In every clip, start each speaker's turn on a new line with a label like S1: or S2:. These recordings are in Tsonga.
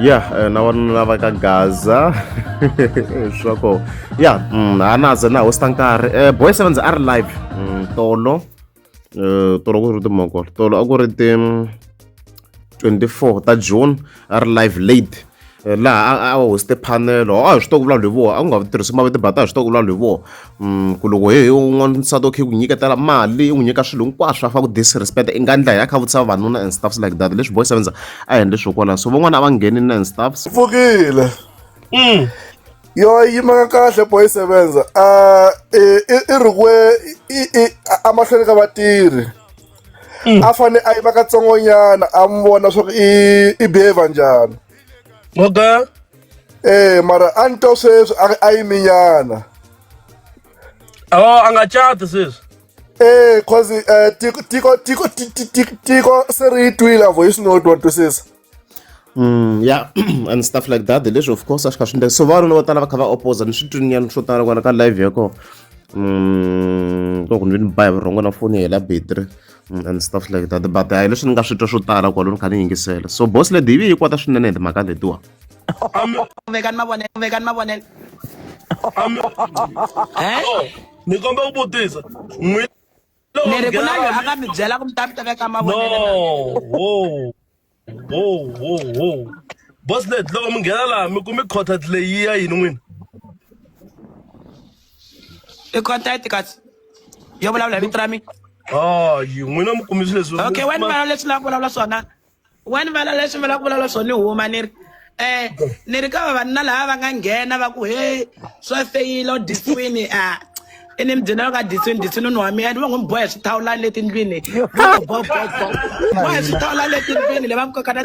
S1: ya eh, na vanuna lava ka gaza leswaku ya mm, a na ze na hosta nkarhi eh, boy sevens a ri live mm, tolo eh, tolo ku ri timoko tolo a ku ri ti 24 mm, ta june a ri live late laha a hoste panelo a hi swi to ku vulavula hi voho a ku nga tirhisi mavito bata a hi swi to ku vulavula hi voho ku loko he he un'wana nsati okay ku nyiketela mali i n'wi nyika swilo hinkwaswo a fa ku disrespect i nga ndla hi a kha vutisa vavanuna and stuffs like that leswi boy sevenza a hi endle swo kwala so van'wana a va ngheni na and stuffs pfukile
S2: mm. yo yimaka kahle boy sevenza a i ri kwe emahlweni ka vatirhi mm. a fane a yima katsongonyana a mi vona swa ku i behavior njhani okay
S3: ee eh,
S2: mara a ni to sweswi a yi minyana oh
S3: a nga cati sweswi ee eh,
S2: cause um tiko tiko tiko tiko se ri yi twile a voice note wa twisisa Mm, yeah
S1: and stuff like that leswi of course a swi kha swi ndleka so vanuna vo tala va kha va opposa ni swi twinyana swo tala kona ka live ya kona mm, loko ni ve ni ba hi vurhongo na foni hela battery mm, and stuff like that but hayi leswi ni nga swi twa swo tala kwalo ni kha ni yingisela so boss lady yi yi kwata swinene hi timhaka letiwa
S4: vekani mavonelo vekani mavonelo
S3: ni komba ku vutisa n'wina
S4: ni ri ku na loyi a nga mi byela ku mi ta mi ta veka mavonelo no wo wo wo
S3: wo boss lady loko mi nghena laha mi kumi contact leyi ya yini n'wina
S4: i contact kasi yo vulavula hi vito ra mina oh yi n'wina
S3: mi kumi swilo leswi okay wena vulavula leswi la
S4: vulavula swona wa ni vala leswi mi lava ku vulavula swona ni huma ni ri um ni ri ka vavanuna lava va nga nghena va ku he swa feyila u disiwini a i ni mibyeni va nga disiwini disiwini ni wa mina ni va ngo mi bohe swithawulani le tindlwini bohe swithawulani le tindlwini le va mi koka na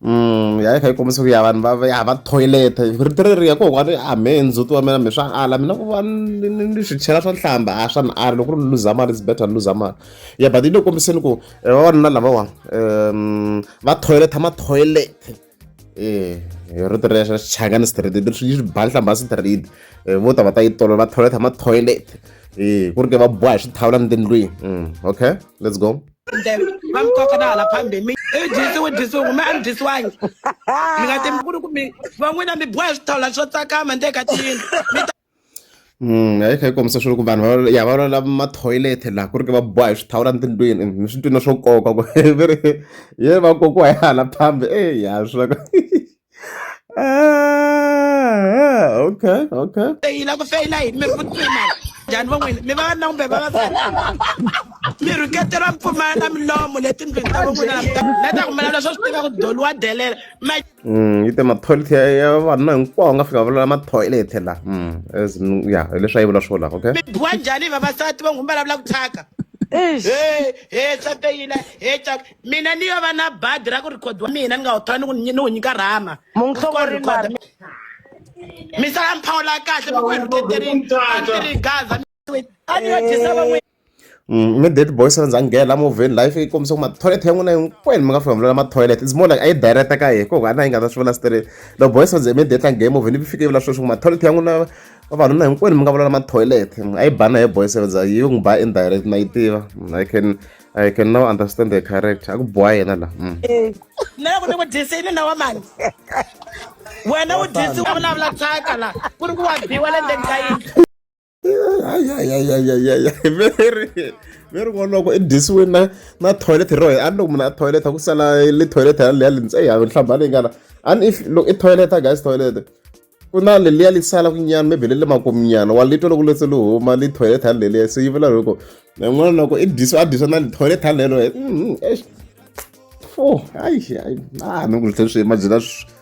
S4: Mm,
S1: ya kha yi kombisa ku ya vanhu va ya va toilet rito reri ya ko wa a me ndzhuti wa mina mi swa ala mina ku va ni swi chela swa nhlamba a swa ni ala loko ri luza mali is better ni luza mali ya but yi le kombiseni ku Eh, va vavanuna lavawani um va toilet ma toilet e rito ra xa xichangani street leswi yi swi ba nhlamba street eh, vo ta va ta yi tolo va toilet ma toilet e ku ri ke va boha hi swithawula ni tindlwini mm, okay let's go va mi koka
S4: na hala phambeni mi i dyisiwe dyisiwe kumbe a mi dyisiwangi mi nga timi ku ri ku mi van'wina mi boha hi swithawula swo tsakama ndzeni ka tiyindlu
S1: Mm, a yi kha yi kombisa swilo ku vanhu va ya va lwela ma-toilet laha ku ri ke va boha hi swithawula tindlwini ni swi twile swo nkoka ku ve ri ye va kokiwa hi hala phambi e ya swi loko okay okay feyila ku feyila yini
S4: mi ri vutima njhani van'wini mi va na kumbe vavasati mi rhuketela mpfumala na milomo letindlwini ta van'wina na ta kumela leswo swi tiva ku doliwa delela Mm, yi te
S1: mathoyileti ya ya vanuna hinkwawo nga fika vulela mathoyileti la mm, as in, ya hi leswi a yi vula swo la okay mi biwa njhani vavasati
S4: va n'wi vulavula ku thyaka Eish. he he nsati yina he caka mina ni yo va na badi ra ku rhikhodiwa mina ni nga wu thola ni ku ni wu nyika rhama Munhlongori mhani. misala mi phawula kahle mi ku hi rhuketerini a ndzi ri gaza a ni yo dyisa van'wini Immediate
S1: boys va nghena movheni life yi kombisa ku mathoyileti ya n'wina hinkwenu mi nga fika mi vula mathoyileti it's more like a yi direct ka yena ko hana yi nga ta swi vula straight loko boys va ze immediate a nghena movheni yi fike yi vula sweswi ku mathoyileti ya n'wina vavanuna hinkwenu mi nga vulala mathoyileti a yi bana hi boys va za yi n'wi ba indirect na yi tiva i can I can now understand the character a ku boha yena la mm. eh, na loko
S4: ni ku dyisini na wa mani wena u dyisiwa vulavula thyaka la ku ri ku wa biwa le ndzeni ka yindlu
S1: mi ri voloko i dyisiwe na na toilet ro a ni loko munhu a toilet ku sala le toilet ya leya lintse ya nhlamba leyi ngana a ni if loko i toilet a guys toilet ku na leliya li sala ku nyana maybe le le makuminyana wa litwa loko letse li huma li toilet ya leliya se yi vula loko n'wana loko i dyisiwe a dyisiwa na li toilet ya lelo fo hayi hayi a ni ku hleswi mabyela swi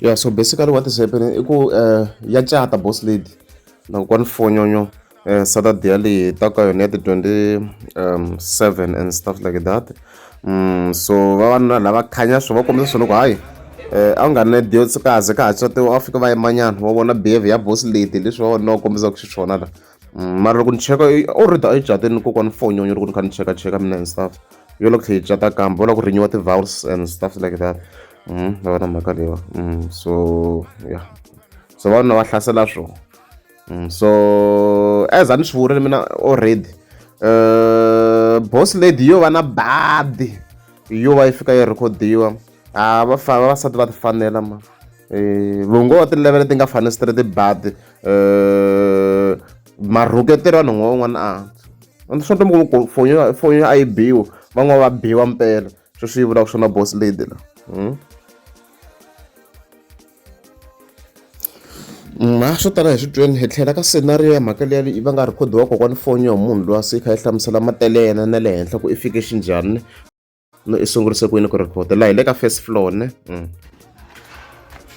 S1: ya so basically what is happening i ku um ya cata boss lady na kwani fonyonyo um saturday yaleyi ta ka yona ya ti-twenty um seven and stuff like that um so vavanuna lava khanya swo va kombisa swona ku hayi Eh, a wu nga ne diotsikaze ka ha tswatiwa a fika va yimanyana wa vona behavior ya boss lady leswi va vona va kombisaka xiswona la mm, mara loko ni cheka already a yi cate ni kokwana fonyonyo loko ni kha ni cheka cheka mina and stuff yo loko tlhe yi cata kambe va lava ku rinyiwa ti-vowels and stuff like that mm, va va na mhaka leyiwa mm, so ya so va na va hlasela swo so as a ni swi vurile mina already uh, boss lady yo va na badi yo va yi fika yi rhikhodiwa a ah, va fa vavasati va ti fanela ma eh, vongo wa tilevele ti nga fani straight bad eh, marhuketeri vanhu n'we un'wana a ah. swa ntomi ku fonyo a yi biwa van'wana va biwa mpela sweswi swi vulaka swona boss lady la hmm? ma swo tala hi switweni hi tlhela ka scenario ya mhaka leya va nga rhikhodiwa kokwani foni yo munhu loyi a se yi kha yi hlamusela matele yena na le henhla ku i fike xinjhani no i sungurise ku yini ku record la hi le ka first floor ne mm.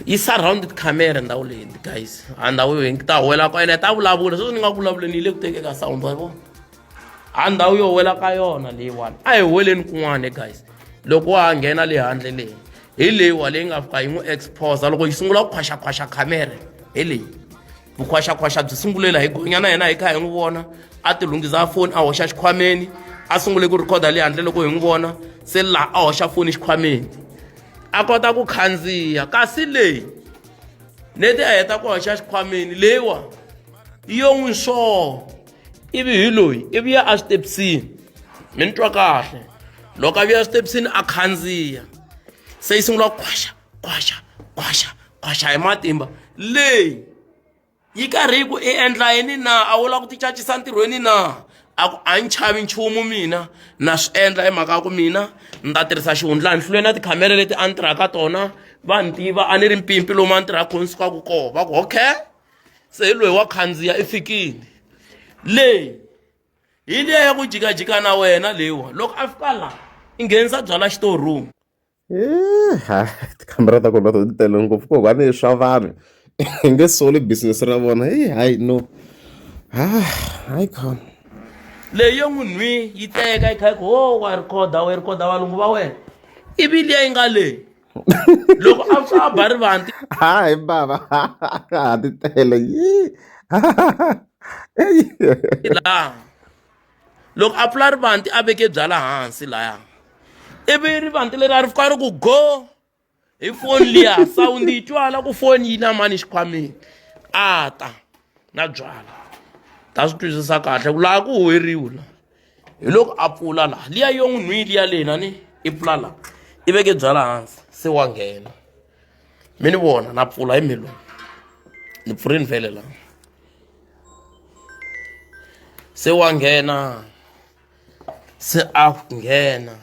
S1: yi
S5: surrounded camera ndhawu leyi guys a ndhawu yo hi ta wela ka yona ta vulavula sweswi ni nga vulavuleni yi le ku tekeka sound wa vona a ndhawu yo wela ka yona leyiwani a hi weleni kun'wana guys loko wa ha nghena le handle leyi hi leyiwa leyi nga fika yi n'wi exposa loko yi sungula ku khwaxakhwaxa camera hi leyi vukhwaxakhwaxa byi sungule la hi gonya na yena hi kha hi n'wi vona a ti lunghisa foni a hoxa xikhwameni a sungule ku rhikhoda le handle loko hi n'wi vona se laha a hoxa foni xikhwameni a kota ku khandziya kasi leyi neti a heta ku hoxa xikhwameni leyiwa yo n'wi swo ivi hi loyi ivi ya eswitepisini mi ni twa kahle loko a vuya eswitepisini a khandziya se yi sungula ku khwaxa kwaxa kwaxa kwaxa hi matimba leyi yi karhi yi ku i endla yini na a wu lava ku ti cacisa ntirhweni na a ku a ni chavi nchumu mina na swi endla hi mhaka ya ku mina ni ta tirhisa xihundla ni hlule na tikhamera leti a ni tirhaka tona va ni tiva a ni ri mpimpi lomu a ni tirhaka kona sukaka kona va ku okay se hi loyi wa khandziya i fikile leyi hi liya ya ku jikajika na wena leyiwa loko a fika laha i nghenisa byala xitorum ha
S1: tikhamera ta kona to ti tele ngopfu ko va ni swa vanhu hi nge soli business ra vona hi hayi no ha hayi khona leyo
S5: n'winhwi yi teka yi kha ku ho wa rikhoda we rikhoda valungu va wena ivi liya yi nga leyi loko a pfa a ba ri vanti hayi bava
S1: ha ti tele yi
S5: laha loko a pfula rivanti a veke byala hansi laya ivi rivanti leri a ri fika ri ku go hi foni liya sawundi yi twala ku foni yi na mani xikhwameni a ta na byala ta swi twisisa kahle ku laha ku huweriwi la hi loko a pfula laha liya yo n'wi nhwili ya lena ni i pfula laha i veke byala hansi se wa nghena mi ni vona na pfula hi mhelo ni pfurini vhele la se wa nghena se a nghena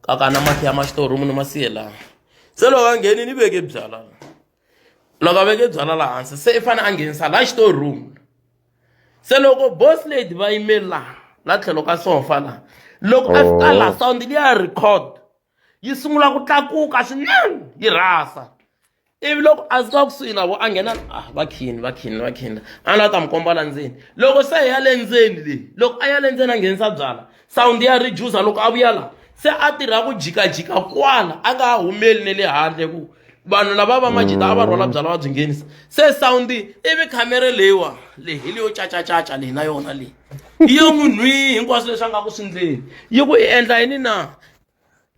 S5: kakana mati ya maxitorumu ni masiye laha se loko a ngheni ni veke byala loko a veke byala laha hansi se i fanele a nghenisa laha xitorumu se loko boss lady va yimeli laha la tlhelo ka sofa laha loko a fika laha oh. sound liya record yi sungula ku tlakuka swinene yi rhasa ivi loko a zika kusuhi na vo a nghena ah va khini va khini va khini a ni la ta mi komba la ndzeni loko se ya le ndzeni leyi loko a ya le ndzeni a nghenisa byala sawundi ya reducer loko a vuya la se a tirha ku jikajika kwala a nga ha humeli ne le handle ku vanhu lava va majita a va rhwala byala va byi nghenisa se sawundi ivi khamere leyiwa leyi hi leyo cacacaca leyi na yona leyi yi yo n'wi nhwi hinkwaswo leswi a nga ku swi ndleni yi ku i endla yini na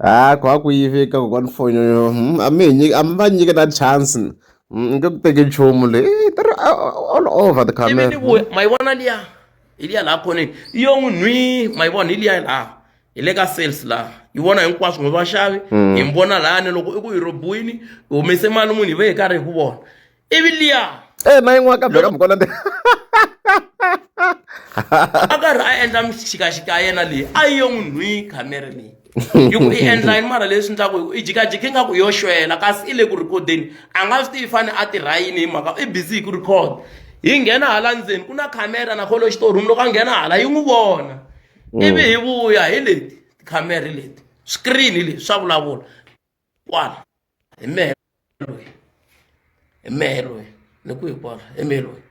S5: ha
S1: ku ha ku yive ka kokwana foni yoyo hmm, a mi hi nyika a mi va nyike na chance ni hmm, nge ku teki nchumu leyi eh, tiri all over the camera ni vuya ma yi vona liya
S5: hi liya laha khoneni i yo n'wi nhwi ma yi vona hi liya laha hi le ka sales laha yi vona hinkwaswo n'wi vaxavi hmm. hi mi vona lahani loko i ku hi robiwini hi humese mali munhu hi ve hi karhi hi ku vona ivi liya e na yin'wana ka beka
S1: mukona ndi
S5: a karhi a endla mixikaxika ya yena leyi a yi yo n'wi nhwi khamere leyi yi ku i endla yini mara leswi ndlaku hi ku i jikajiki nga ku yo xwela kasi i le ku rhikhodeni a nga swi tivi fane a tirha yini hi mhaka i busy hi ku rhikhoda hi nghena hala ndzeni ku na khamera na kholo xitorum loko a nghena hala yi n'wi vona mm. ivi hi vuya hi leti tikhamera leti screen leti swa vulavula kwala hi mehe loyi hi mehe loyi ni ku hi kwala hi mehe loyi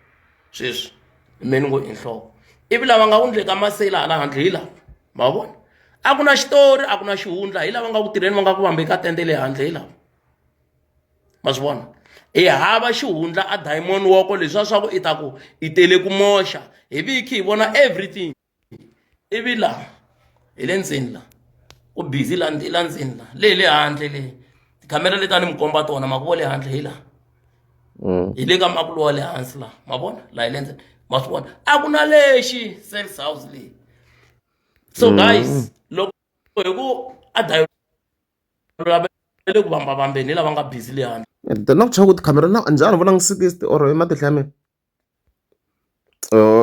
S5: sweswi hi mehe ni ngo i nhloko ivi lava nga ku ndle ka maseyila hala handle hi lava ma vona a ku na xitori a ku na xihundla hi lava nga ku tirheni va nga ku vambe ka tende le handle hi lava ma swi vona hi hava xihundla a diamond woko leswiya swa ku i ta ku i tele ku moxa hi viki hi vona everything ivi laha hi le ndzeni la ku busy la la ndzeni la le hi le handle le tikhamera leti a ni mi komba tona ma ku vo le handle hi laha mm. hi le ka makulo wa le hansi laha ma vona laha hi le ndzeni ma swi vona a ku na lexi sales house leyi so mm. guys loko hi ku a dayolele ku vambavambeni hi lava nga busy le handle the nok chaka ku tikhamera
S1: na njhani vona ngi sikisiti or hi matihla ya mina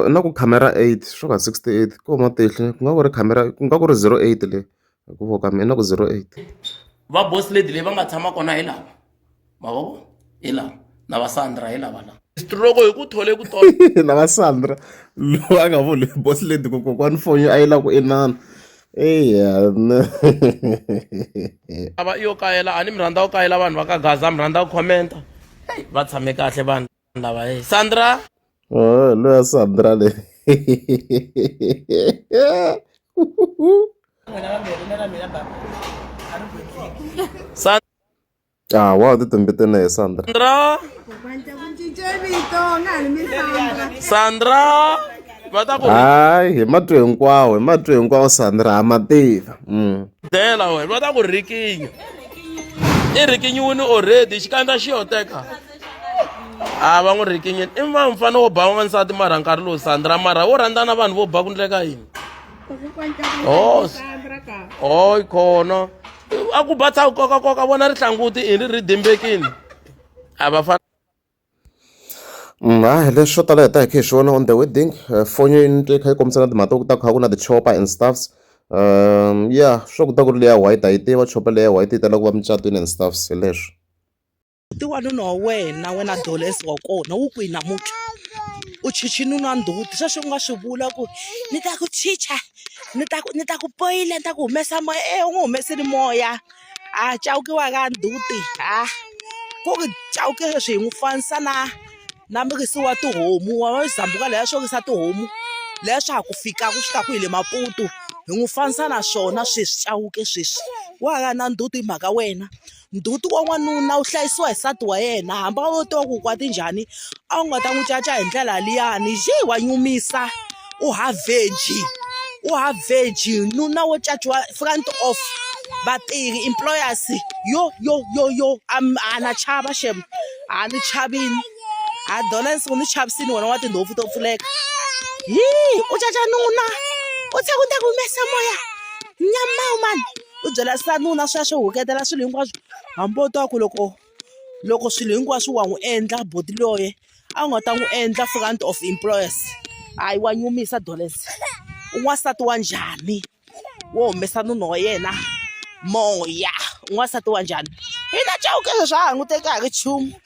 S1: na ku khamera eight swo ka sixty eight ku huma tihlo ku nga ku ri khamera ku nga ku ri zero eight le hi ku vona ka mina ku zero eight. Va boss
S5: lady leyi va nga tshama kona hi lava ma vo hi lava na va Sandra hi lava lava. Stroke hi ku thole ku tolo. na va Sandra
S1: loyi a nga vuli boss lady ku kokwani foni a yi lava ku inana. Eya
S5: ava yo kayela a ni mi rhandza ku kayela vanhu va ka Gaza mi rhandza ku comment va tshame kahle vanhu. Sandra bhai. Sandra. Oh, loya
S1: Sandra le. Sandra. Ah, wow, ti tumbete na Sandra. Sandra.
S5: Sandra. hayi hi matwi
S1: hinkwawo hi matwi hinkwawo sandra ha ma tiva mm. dela
S5: wena va ta ku rikinya i rikinyiwini already xikandza xi yo teka a va n'wi rikinyeni i va mfana wo ba wansati mara nkarhi lowu sandra mara wo rhandza na vanhu vo ba ku ndleka yini o o yi khona a ku ba tshaku koka koka vona ri hlanguti i ri ri dimbekini a va fana
S1: ha leswi swo tala hi ta hi kha hi swi vona on the wedding eh, fonyo yi nitwe kha yi kombisa na timhaka ku ta kha ku na tichopa and stuffs um ya swa ku ta ku ri leya white a yi tiva chopa leya white yi tala ku va mucatwini and stuffs hi leswi ti wanuna
S6: wa wena wena doles wa kona wu kwihi namuntlha u chichi nuna ndzhuti sweswi u nga swi vula ku ni ta ku chicha ni ta ku ni ta ku poyile ni ta ku humesa moya e u n'wi humesile moya a cawukiwa ka ndzhuti ha ku ri cawuke sweswi hi n'wi fanisa na na murisi wa tihomu wa wa zambuka leya swo risa tihomu leya swa ha ku fika ku fika kwihi le maputu hi n'wi fanisa na swona sweswi cawuke sweswi wa ha ri na ndzhuti hi mhaka wena. ndzhuti wa n'wanuna wu hlayisiwa hi nsati wa yena hambi a wo tiva ku kwata njhani a wu nga ta n'wi caca hi ndlela liyani yi wa nyumisa u haveji u haveji nuna wo caciwa front of vatirhi employers yo yo yo yo a na chava xem a ni chavile ha dolense u ni chavisile wena wa tindhompfu to pfuleka hi u caca nuna u tlhela u ta ku humesa moya nyama mani. u byela se nuna swi ya swi huketela swilo hinkwaswo hambi wo twa ku loko loko swilo hinkwaswo wa n'wi endla buti loye a wu nga ta n'wi endla front of employers hayi wa nyumisa dollars u n'wansati wa njhani wo humesa nuna wa yena moya n'wansati wa njhani hina cewukele swa ha n'wi teka ha ri nchumu.